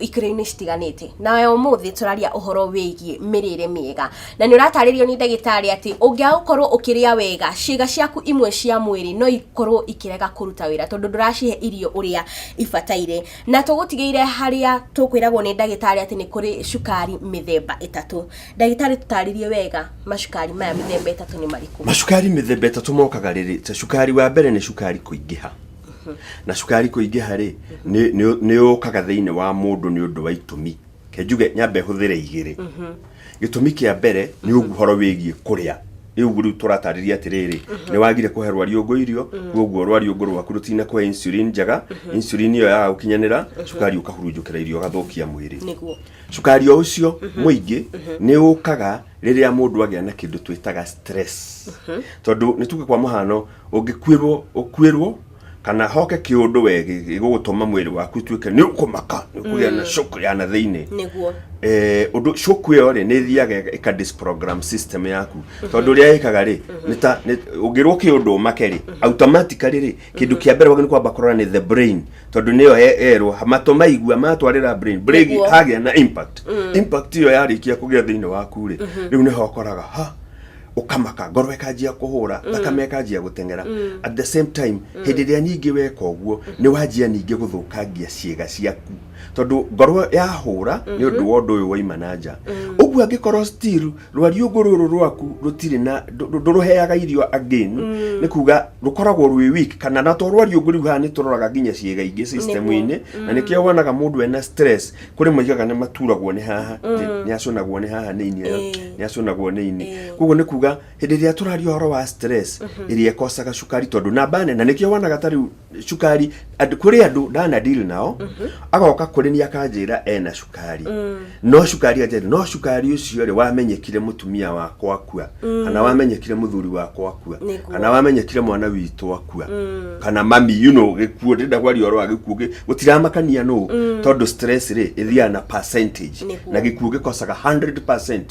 ikĩro-inĩ citiganĩte nawe ũmũthĩ tũraria ũhoro wĩgiĩ mĩrĩre mĩega na nĩ ũratarĩrio nĩ ndagĩtarĩ atĩ ũngĩaga gũkorwo ũkĩrĩa wega ciĩga ciaku imwe cia mwĩrĩ no ikorwo ikĩrega kũruta wĩra tondũ ndũracihe irio ũrĩa ibataire na tũgũtigĩire harĩa tũkwĩragwo nĩ ndagĩtarĩ atĩ nĩ kũrĩ cukari mĩthemba ĩtatũ ndagĩtarĩ tũtarĩrie wega macukari maya mĩthemba ĩtatũ nĩ marĩkũ macukari mĩthemba ĩtatũ mokaga rĩrĩ ta cukari wa mbere nĩ cukari kũingĩha na cukari kũingĩha rĩ nĩ- nĩ- nĩ ũkaga thĩinĩ wa mũndũ nĩ ũndũ wa itũmi kenjuge nyambe hũthĩre igĩrĩ gĩtũmi kĩa mbere nĩ ũguhoro wĩgiĩ kũrĩa rĩu ũguo rĩu tũratarĩria atĩrĩrĩ nĩ wagire kũhe rwariũngũ irio koguo rwariũngũ rwaku rũtina kũhe insulin njega insulin ĩyo yaga gũkinyanĩra cukari ũkahurunjũkĩra irio ũgathũkia mwĩrĩ nĩguo cukari o ũcio mũingĩ nĩ ũkaga rĩrĩa mũndũ agĩa na kĩndũ twĩtaga stress tondũ nĩ tuge kwa mũhano Ũngĩkuĩrwo ũkuĩrwo kana hoke kĩũndũ we gĩ- gĩgũgũtũma mwĩrĩ waku ũtuĩke nĩ ũkũmaka nĩ ũkũgĩa na shock ya na thĩinĩ nĩguo Eh, ũndũ shock ĩyo rĩ nĩ thiaga ĩka disprogram system yaku tondũ ũrĩa ĩkaga rĩ nĩ ta nĩ- ũngĩrwo kĩũndũ ũmake rĩ automatically rĩ kĩndũ kĩa mbere wagĩrĩirwo kwamba kũrora nĩ the brain tondũ nĩyo ye- yerwo matũ maigua matwarĩra brain brain Nĩguo. hagĩa na impact impact ĩyo yarĩkia kũgĩa thĩinĩ waku rĩ rĩu nĩho ũkoraga ha ũkamaka ngoro ĩkanjia kũhũra thakame ĩkanjia gũteng'era at the same time hĩndĩ ĩrĩa ningĩ weka ũguo nĩ wanjia ningĩ gũthũkangia ciĩga ciaku tondũ ngoro yahũra nĩ ũndũ wa ũndũ ũyũ waima na nja ũguo angĩkorwo still rwariũngũ rũrũ rwaku rũtirĩ na ndũ- ndũ- ndũrũheaga irio again nĩ kuga rũkoragwo rwĩ weak kana na to rwariũngũ rĩu haha nĩ tũroraga nginya ciĩga ingĩ system-inĩ na nĩkĩo wonaga mũndũ ena stress kũrĩ moigaga nĩ maturagwo nĩ haha nĩ- nĩ acũnagwo nĩ haha nĩ ini Eh. nĩ acũnagwo nĩ ini Eh. koguo nĩ kuga hĩndĩ ĩrĩa tũraria ũhoro wa stress ĩrĩa ĩkocaga cukari tondũ namba nene nĩkĩo wonaga ta rĩu cukari andũ- kũrĩ andũ ndana deal nao agoka kũrĩ niĩ akanjĩra ena cukari no cukari anjĩra no cukari ũcio rĩ wamenyekire mũtumia wakwa akua mm. kana wamenyekire muthuri wakwa akua kana wamenyekire mwana witå akua mm. kana mami you know gikuo ndä ndagwaria oro wa gä kuo gå tiramakania no mm. tondå stress rä ä na percentage na gä kuo gä kocaga 100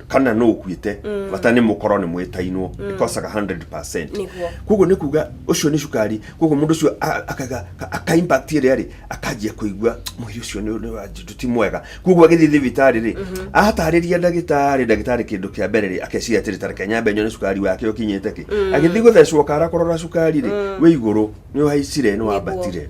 kana no ukuite mm. bata ni mukoro ni mwitainwo mm. ikosaga 100% koguo ni kuga ucio ni cukari koguo mundu ucio akaga aka impact ri ari akanjia kuigua mwiri ucio ni ni wanjindu ti mwega koguo agithii thibitari ri atariria ndagitari ndagitari kindu kia mbere ri akeciria atiri tareke nyambe nyone cukari wake ukinyite ki agithii guthecwo kara kurora cukari ri wi iguru ni waicire ni wambatire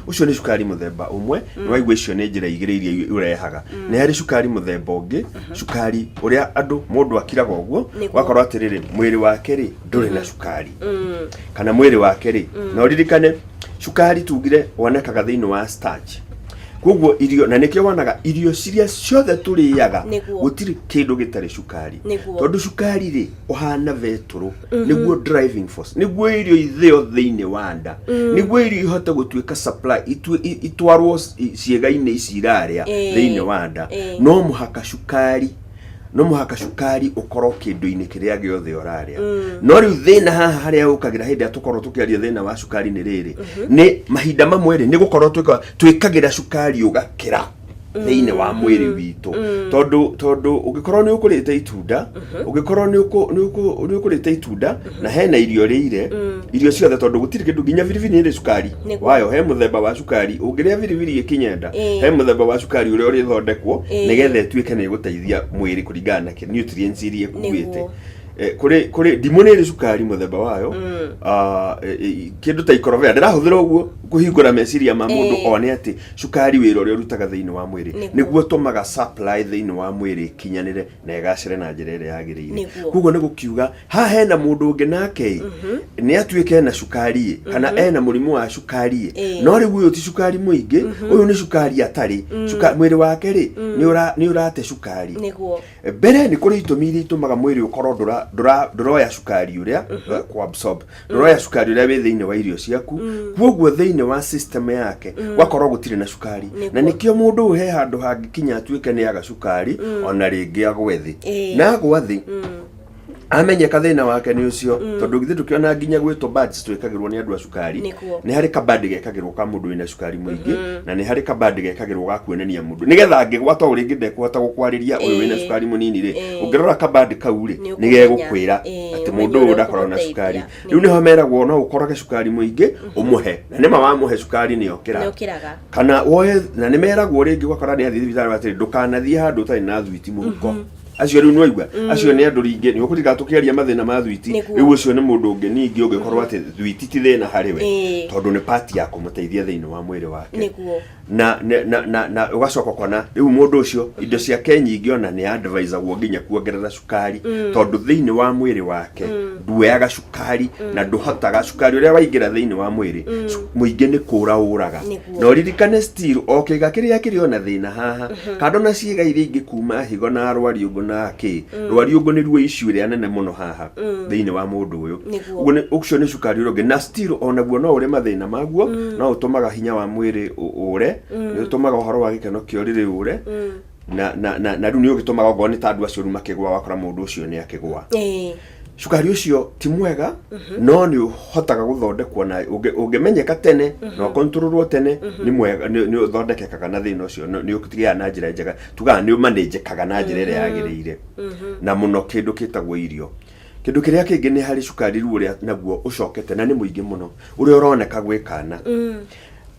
ucio ni cukari muthemba umwe ni waigua icio ni njira igiri iria urehaga ni hari cukari muthemba ungi cukari uria andu mundu akiraga uguo Nĩguo. wakorwo atiriri mwiri wake ri nduri na cukari kana mwiri wake ri no ririkane cukari tugire wonekaga thĩinĩ wa starch koguo irio na nĩkĩo wonaga irio ciria ciothe tũrĩaga Nĩguo. gũtirĩ kĩndũ gĩtarĩ cukari Nĩguo. tondũ cukari rĩ ũhana vetũrũ nĩguo driving force nĩguo irio ithĩo thĩinĩ wa nda nĩguo irio ihote gũtuĩka supply itue- i- itwarwo ci- ciĩga-inĩ ici irarĩa Ĩĩ. thĩinĩ wa nda Ĩĩ. no mũhaka cukari no mũhaka cukari ũkorwo kĩndũ-inĩ kĩrĩa gĩothe ũrarĩa no rĩu thĩna haha harĩa ũkagĩra hĩndĩ ĩrĩa tũkorwo tũkĩaria thĩna wa cukari nĩ rĩrĩ nĩ mahinda mamwe rĩ nĩ gũkorwo twĩka- twĩkagĩra cukari ũgakĩra thĩinĩ wa mwĩrĩ witũ tondũ tondũ ũngĩkorwo nĩ ũkũrĩte itunda ũngĩkorwo nĩ ũkũ- nĩ ũkũ- nĩ ũkũrĩte itunda na hena irio rĩire irio ciothe tondũ gũtirĩ kĩndũ nginya biribiri nĩrĩ cukari Nĩguo. wayo he mũthemba wa cukari ũngĩrĩa biribiri ĩkinyenda Ĩĩ. he mũthemba wa cukari ũrĩa ũrĩthondekwo Ĩĩ. nĩgetha ĩtuĩke nĩ ĩgũteithia mwĩrĩ kũringana na kĩ- nutrients iria ĩkuĩte Nĩguo. Eh, kũrĩ kũrĩ ndimũ nĩrĩ cukari mũthemba wayo Ah, eh, eh, kĩndũ ta ikorobea ndĩrahũthĩra ũguo kũhingũra meciria ma mũndũ Ĩĩ. one atĩ cukari wĩra ũrĩa ũrutaga thĩinĩ wa mwĩrĩ Nĩguo. nĩguo ũtũmaga supply thĩinĩ wa mwĩrĩ ĩkinyanĩre na ĩgacĩre na njĩra ĩrĩa yagĩrĩire Nĩguo. koguo nĩ gũkiuga haha hena mũndũ ũngĩ nake nĩ atuĩka ena cukari ĩ kana ena mũrimũ wa cukari ĩ Ĩĩ. no rĩu ũyũ ti cukari mũingĩ ũyũ nĩ cukari atarĩ Cuka- mwĩrĩ wake rĩ nĩ ũra- nĩ ũrate cukari nĩguo mbere nĩ kũrĩ itũmi iria itũmaga mwĩrĩ ũkorwo ndũra- ndũra- ndũroya cukari ũrĩa kũ absorb ndoro ya cukari ũrĩa wĩ thĩinĩ wa irio ciaku kwoguo thĩinĩ wa system yake gwakorwo gũtirĩ na cukari Nĩguo. na nĩkĩo mũndũ ũyũ he handũ hangĩkinya atuĩke nĩ aga cukari ona rĩngĩ agwe thĩ Ĩĩ. na agwa thĩ amenyeka thĩna wake nĩ ũcio tondũ githĩ tũkĩona nginya gwĩtwo badge twĩkagĩrwo nĩ andũ a cukari Nĩkuo. nĩ harĩ kabandi gekagĩrwo ka mũndũ wĩna cukari mũingĩ na nĩ harĩ kabandi gekagĩrwo ga kuonania mũndũ nĩgetha angĩgwa to rĩngĩ ndekũhota gũkwarĩria ũyũ wĩna Ĩĩ. cukari mũnini rĩ Ĩĩ. ũngĩrora kabandi kau rĩ Nĩ nĩ ũkũmenya. gegũkwĩra Ĩĩ. atĩ ũmenye mũndũ ũyũ ũrĩa ndakoragwo na ũkũmũteithia. cukari Nĩ- rĩu nĩho meragwo no ũkorage cukari mũingĩ ũmũhe na nĩma wamũhe cukari nĩ nĩokĩra ũkĩraga kana woe na nĩ meragwo rĩngĩ ũgakora nĩ athiĩ thibitarĩ atĩrĩ ndũkanathiĩ handũ ũtarĩ na thwiti mũhuko acio rĩu nĩwaigua acio nĩ andũ ringĩ nĩ ũkũrika tũkĩaria mathĩna ma thwiti Nĩguo. rĩu ũcio nĩ mũndũ ũngĩ ningĩ ũngĩkorwo atĩ thwiti ti thĩna harĩ we Ĩĩ. tondũ nĩ pati ya kũmũteithia thĩinĩ wa mwĩrĩ wake nĩguo na na- na na, na ugacoka kona riu mundu ucio indo ciake nyingi ona ni advisagwo nginya kuongerera cukari tondu thiini wa mwiri wake nduoyaga cukari na nduhotaga cukari uria waingira thiini wa mwiri muingi ni kura uraga Nĩguo. no ririkane still o kiga kiria kiri ona thina haha kando na ciiga iria ingi kuma higo na rwariungu na ki rwariungu ni ruo icio iria nene muno haha thĩinĩ wa mũndũ ũyũ Nĩguo. Ũguo nĩ- ũcio nĩ cukari ũrĩa ũngĩ na still onaguo no ũrĩ mathĩna maguo no ũtũmaga hinya wa mwĩrĩ ũ- ũre nĩ ũtũmaga ũhoro wa gĩkeno kĩa ũrĩrĩ ũre na, na, na, na rĩu nĩ ũgĩtũmaga okorwo nĩ ta andũ acio rĩu makĩgwa wakora mũndũ ũcio nĩ akĩgwa Eh, cukari ũcio ti mwega no nĩ ũhotaga gũthondekwo na ũngĩ- ũngĩmenyeka tene na ũkontrolwo tene nĩ mwega nĩ nĩ ũthondekekaga na thĩna ũcio nĩ- nĩ ũtigĩaga na njĩra njega tugaga nĩ ũmanĩnjĩkaga na njĩra ĩrĩa yagĩrĩire na mũno kĩndũ kĩtagwo irio kĩndũ kĩrĩa kĩngĩ nĩ harĩ cukari rĩu ũrĩa naguo ũcokete na nĩ mũingĩ mũno ũrĩa ũroneka gwĩ kana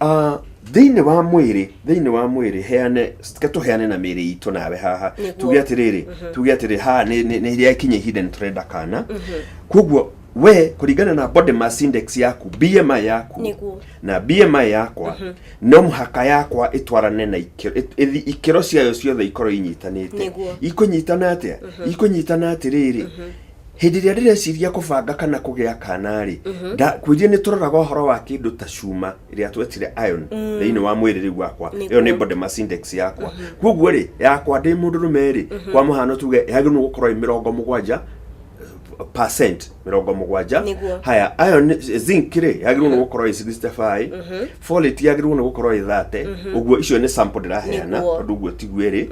Ah, thĩinĩ wa mwĩrĩ thĩinĩ wa mwĩrĩ heane ke tũheane na mĩĩrĩ itũ nawe haha Nĩguo. tuge atĩrĩrĩ tuge atĩrĩ haha nĩ- nĩ nĩ rĩa kinya ihinda nĩ tũrenda kana koguo we kũringana na body mass index yaku bmi yaku Nĩguo. na bmi yakwa no mũhaka yakwa ĩtwarane na ikĩro ĩt- ĩthi- ikĩro ciayo ciothe ikorwo inyitanĩte Nĩguo. ikũnyitana atĩa ikũnyitana atĩrĩrĩ hĩndĩ ĩrĩa ndĩreciria kũbanga kana kũgĩa kana-rĩ ndakwĩria nĩ tũroraga ũhoro wa kĩndũ ta cuma ĩrĩa twetire iron thĩinĩ wa mwĩrĩ rĩu wakwa Nĩguo. ĩyo nĩ body mass index yakwa kwoguo-rĩ yakwa ndĩ mũndũ rũme-rĩ kwa mũhano tuge yagĩrĩirwo gũkorwo ĩ mĩrongo mũgwanja percent mirongo mugwanja Nĩguo. haya iron eh, zinc rĩ yagĩrĩirwo nĩ gũkorwo ĩ 65 folate yagĩrĩirwo nĩ gũkorwo ĩ 30 ũguo icio nĩ sample ndĩraheana Nĩguo. tondũ ũguo tiguo ĩrĩ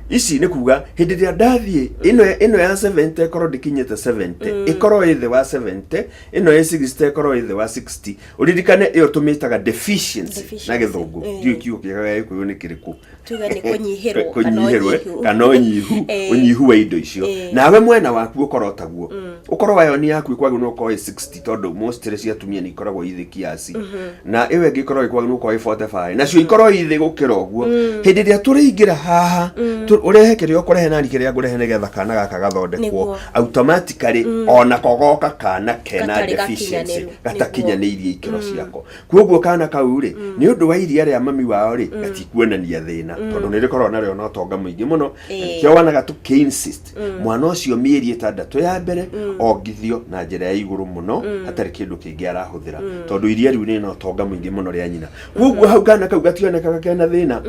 ici nĩ kuga hĩndĩ ĩrĩa ndathiĩ ĩno ĩno ya 70 ĩkorwo ndĩkinyĩte 70 ĩkorwo ĩ thĩ wa 70 ĩno ya 60 ĩkorwo ĩ thĩ wa 60 ũririkane ĩyo tũmĩtaga deficiency na Deficiency. gĩthũngũ Eh. ndiũ kiugo kĩega gĩa gĩkũyũ nĩ kĩrĩkũ tuge nĩ kũnyihĩrwo kana kũnyihĩrwo eh, ũnyihu. kana ũnyihu Eh. ũnyihu wa indo icio Eh. Mm. nawe mwena waku ũkorwo taguo ũkorwo wayo nĩ yaku ĩkwagĩ nĩ ũkorwo ĩ 60 tondũ mostly cia atumia nĩ ikoragwo ithĩ kiasi Mm-hmm. na ĩyo ĩngĩ ĩkorwo ĩkwagĩ nĩ ũkorwo ĩ 45 Mm. nacio ikorwo ithĩ gũkĩra ũguo hĩndĩ ĩrĩa tũrĩingĩra haha Mm. tũ- ũrehe kĩrĩa ũkũrehe nani kĩrĩa ngũrehe nĩgetha kana gaka gathondekwo Nĩguo. automatically ona kogoka kana kena Gatarĩ deficiency gakinyanĩru. gatakinyanĩirie ikĩro ciako kuoguo kana kau rĩ nĩ ũndũ wa iria rĩa mami wao rĩ gatikuonania thĩna tondũ nĩ rĩkoragwo narĩo na ũtonga mũingĩ mũno Ĩĩ. nĩkĩo wanaga tũ insist mwana ũcio mĩeri ĩtandatũ ya mbere ongithio na njĩra ya igũrũ mũno hatarĩ kĩndũ kĩngĩ arahũthĩra tondũ iria rĩu rĩna ũtonga mũingĩ mũno rĩa nyina kuoguo hau kana kau gationekaga kena thĩna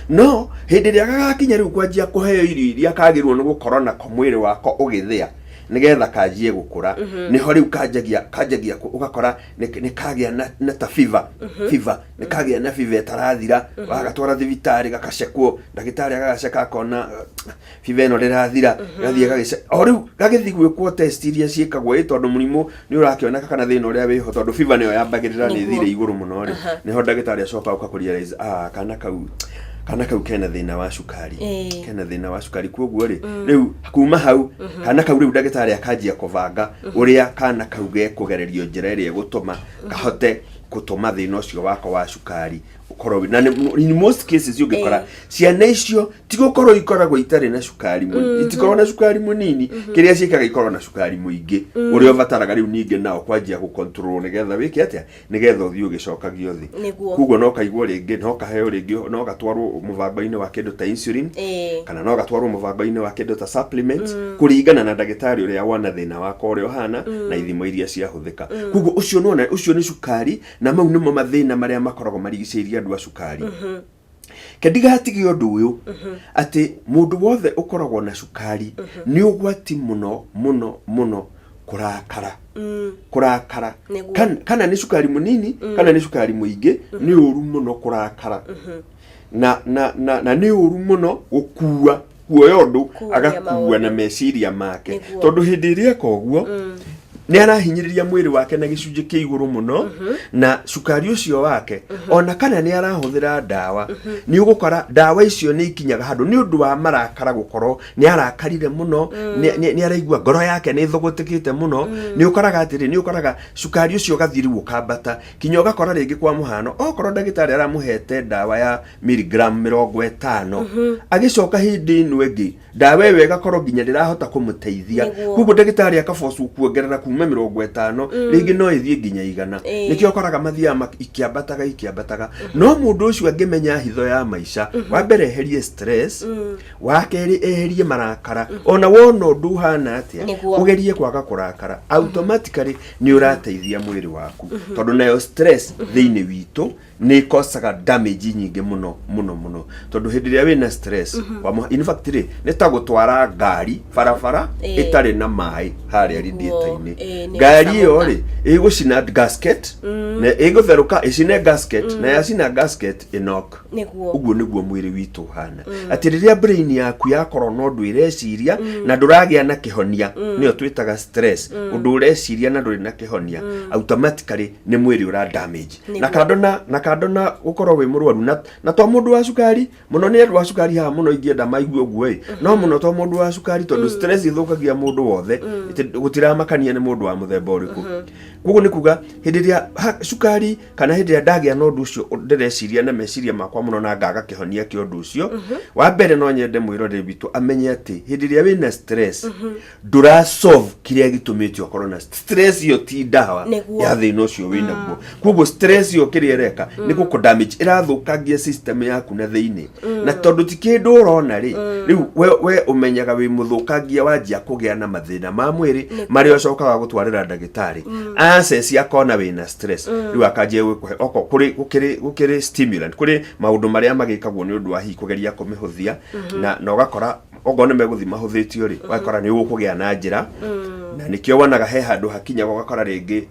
no hĩndĩ ĩrĩa gagakinya rĩu kwanjia kũheo irio iria kagĩrĩirwo nĩ gũkorwo nako mwĩrĩ wako ũgĩthĩa nĩgetha kanjie gũkũra nĩho rĩu kanjagia kanjagia kũ- ũgakora nĩ- nĩkagĩa na, na ta fiva fiva nĩkagĩa na fiva ĩtarathira wagatwara thibitarĩ gakacekwo ndagĩtarĩ agagaceka akona "Ah, fiva ĩno ndĩrathira gathiĩ gagĩce o rĩu gagĩthi gwĩkwo test iria ciĩkagwo ĩ tondũ mũrimũ nĩ ũrakĩoneka kana thĩna ũrĩa wĩho tondũ fiva nĩyo yambagĩrĩra nĩ Nĩguo. thire igũrũ mũno rĩ nĩho ndagĩtarĩ acoka ũka kũrealize ah kana kau kana kau kena thĩna wa cukari Ĩĩ. kena thĩna wa cukari kwoguo rĩ rĩu kuma hau kana kau rĩu ndagĩtarĩ akanjia kũbanga ũrĩa kana kau gekũgererio njĩra ĩrĩa ĩgũtũma kahote gũtũma thĩna ũcio wakwa wa cukari ũkorwo wĩ- na nĩ- in most cases ũngĩkora ciana icio ti gũkorwo ikoragwo itarĩ na cukari mũnini itikorwo na cukari mũnini kĩrĩa ciĩkaga ikorwo na cukari mũingĩ ũrĩa ũbataraga rĩu ningĩ nao kwanjia gũcontrol nĩgetha wĩke atĩa nĩgetha ũthiĩ ũgĩcokagio thĩ Nĩguo. koguo no kaigwo rĩngĩ no kaheo rĩngĩ no gatwarwo mũbango-inĩ wa kĩndũ ta insulin Ĩĩ. kana no gatwarwo mũbango-inĩ wa kĩndũ ta supplement kũringana na ndagĩtarĩ ũrĩa wana thĩna wako ũrĩa ũhana na ithimo iria ciahũthĩka koguo ũcio nĩ ona ũcio nĩ cukari na mau nĩmo mathĩna marĩa makoragwo marigicĩirie andũ a cukari ke ndigatige ũndũ ũyũ atĩ mũndũ wothe ũkoragwo na cukari nĩ ũgwati mũno mũno mũno kũrakara kũrakara Nĩguo. Kan- kana nĩ cukari mũnini kana nĩ cukari mũingĩ nĩ ũru mũno kũrakara na na na na nĩ ũru mũno gũkua kuoya ũndũ Kuumia agakua maũndũ. na meciria make Nĩguo. tondũ hĩndĩ ĩrĩa eka ũguo nĩ arahinyĩrĩria mwĩrĩ wake na gĩcunjĩ kĩa igũrũ mũno na cukari ũcio wake ona kana nĩ arahũthĩra ndawa nĩ ũgũkora ndawa icio nĩ ikinyaga handũ nĩ ũndũ wa marakara gũkorwo nĩ arakarire mũno nĩ- nĩ nĩ araigua ngoro yake nĩ ĩthũgũtĩkĩte mũno nĩ ũkoraga atĩrĩ nĩ ũkoraga cukari ũcio ũgathiĩ rĩu ũkambata kinya ũgakora rĩngĩ kwa mũhano okorwo ndagĩtarĩ aramũhete ndawa ya miligram mĩrongo ĩtano agĩcoka hĩndĩ ĩno ĩngĩ ndawa ĩyo ĩgakorwo nginya ndĩrahota kũmũteithia Nĩguo. koguo ndagĩtarĩ akabocu kuongerera kuma mĩrongo ĩtano rĩngĩ no ĩthiĩ nginya igana Ĩĩ. nĩkĩo ũkoraga mathiaga mak- ikĩambataga ikĩambataga no mũndũ ũcio angĩmenya hitho ya maica wa mbere eherie stress wa kerĩ eherie marakara ona wona ũndũ ũhana atĩa Nĩguo. ũgerie kwaga kũrakara automatically nĩ ũrateithia mwĩrĩ waku tondũ nayo stress thĩinĩ witũ nä ikocaga damage nyingä må no må no må no tondå hä ndä ä rä a wä na stress mm -hmm. kwa mũha- in fact rä nä ta gå twara ngari barabara Ĩĩ. ä tarä na maä harä a Nĩguo, radiator-inĩ ĩĩ, nĩ ngari ĩyo ĩgũcamũka. rä ä gå cina gasket na ä gå therå ka ä cine gasket na yacina gasket ä nok nĩguo ũguo nĩguo mwĩrĩ witũ ũhana atĩ rĩrĩa brain yaku yakorwo na ũndũ ĩreciria na ndũragĩa na kĩhonia nĩyo twĩtaga stress ũndũ ũreciria na ndũrĩ na kĩhonia automatically nĩ mwĩrĩ ũra damage Nĩguo. na kando na na kando na gukorwo wi murwaru na na to mundu wa cukari muno ni andu wa cukari haha muno ingienda maigue uguo i no muno to mundu wa cukari tondu stress ithukagia mundu wothe iti- gutiramakania ni mundu wa muthemba uriku koguo ni kuga hindi ria cukari kana hindi ria ndagia na undu ucio ndireciria na meciria makwa muno na ngaga kihonia kia undu ucio wa mbere no nyende mwiroreri witũ amenye ati hindi ria wina stress ndura solve kiria gitumite okorwo na st- stress iyo ti ndawa Nĩguo. ya thina ucio wĩ naguo koguo stress iyo kiria ireka ni guku damage irathukangia system yaku na thiini na tondu ti kindu urona ri riu we, we umenyaga wi muthukangia wanjia kugia na mathina ma mwiri mari ucokaga gutwarira ndagitari aceci akona wi na stress riu akanjia gwikuhe oko kuri gukiri gukiri stimulant kuri maundu maria magikagwo ni undu wa hihi kugeria kumihuthia na na ugakora okorwo nĩ megũthiĩ mahũthĩtio rĩ ũgakora nĩ ũgũkũgĩa na njĩra na nĩkĩo wonaga he handũ hakinya ũgakora rĩngĩ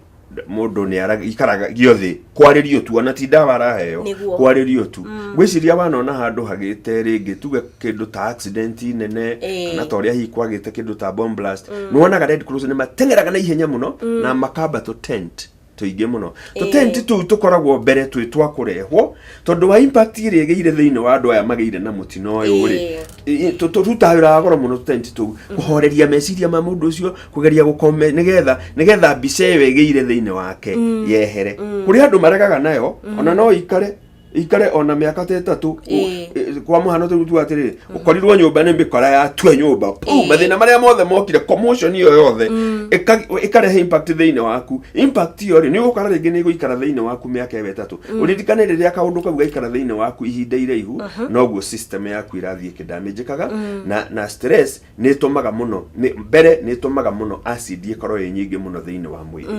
mũndũ nĩ ara- ikaraga gĩothe kwarĩrio tu ona ti ndawa araheo Nĩguo. kwarĩrio tu gwĩciria wanona handũ hagĩte rĩngĩ tuge kĩndũ ta accident nene Ĩĩ. kana ta ũrĩa hihi kwagĩte kĩndũ ta bomb blast nĩ wonaga red cross nĩ mateng'eraga na ihenya mũno na makamba to tent tũingĩ mũno Ĩĩ. tũtenti tũu tũkoragwo mbere twĩ twa kũrehwo tondũ wa impact ĩrĩa ĩgĩire thĩinĩ wa andũ aya magĩire na mũtino ũyũ rĩ Ĩĩ. ĩ- ĩ- tũ- tũrutaga wĩra wa goro mũno tũtenti tũu kũhoreria meciria ma mũndũ ũcio kũgeria gũkome nĩgetha nĩgetha mbica ĩyo ĩgĩire thĩinĩ wake yehere kũrĩ andũ maregaga nayo ona no ikare ikare ona miaka ta ĩtatũ Ũ- Ĩĩ. ĩ- kwa mũhano tũrĩu tuga atĩrĩrĩ ũkorirwo nyũmba nĩ mĩkora ya tua nyũmba Puu, Ĩĩ. mathĩna marĩa mothe mokire commotion iyo yothe ĩka- ĩkarehe impact thĩinĩ waku impact iyo rĩ nĩ ũgũkora rĩngĩ nĩ ĩgũikara thĩinĩ waku mĩaka ĩyo ĩtatũ ũririkane rĩrĩa kaũndũ kau gaikara thĩinĩ waku ihinda iraihu noguo system yaku ĩrathiĩ ĩkĩndamĩnjĩkaga na na stress nä tå maga må no nĩ- mbere nä tå maga må no acid ä korwo ä nyingä må no thä inä wa mwä rä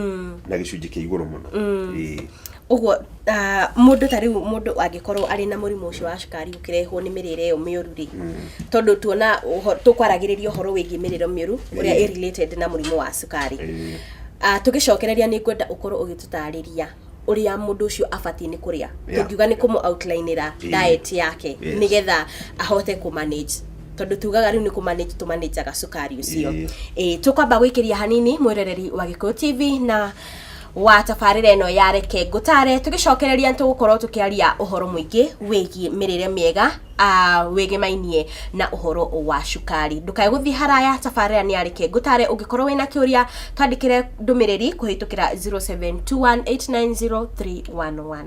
na gä cunjä kä igå rå må no Ĩĩ. ũguo ah, mũndũ ta rĩu mũndũ angĩkorwo arĩ na mũrimũ ũcio wa cukari ũkĩrehwo nĩ mĩrĩre ĩyo mĩũru rĩ tondũ tuona ũho- tũkwaragĩrĩria ũhoro wĩgiĩ mĩrĩre mĩũru ũrĩa Ĩĩ. ĩ related na mũrimũ wa cukari Ĩĩ. Ah, tũgĩcokereria nĩ ngwenda ũkorwo ũgĩtũtarĩria ũrĩa mũndũ ũcio abatiĩ nĩ kũrĩa Yeah. tũngiuga nĩ kũmũ outlineĩra Ĩĩ. diet yake Yes. nĩgetha ahote kũ manage tondũ tugaga rĩu nĩ kũ manage tũ manageaga cukari ũcio Ĩĩ. Ĩĩ, tũkwamba gwĩkĩria hanini mwĩroreri wa gĩkũyũ tv na wa tabarĩra ĩno ya reke ngũtare tũgĩcokereria nĩ tũgũkorwo tũkĩaria ũhoro mũingĩ wĩgiĩ mĩrĩre mĩega aah wĩgĩmainie na ũhoro wa cukari. Ndũkae gũthiĩ haraya tabarĩra nĩ ya reke ngũtare. Ũngĩkorwo wĩna kĩũria twandĩkĩre ndũmĩrĩri kũhĩtũkĩra 0721890311.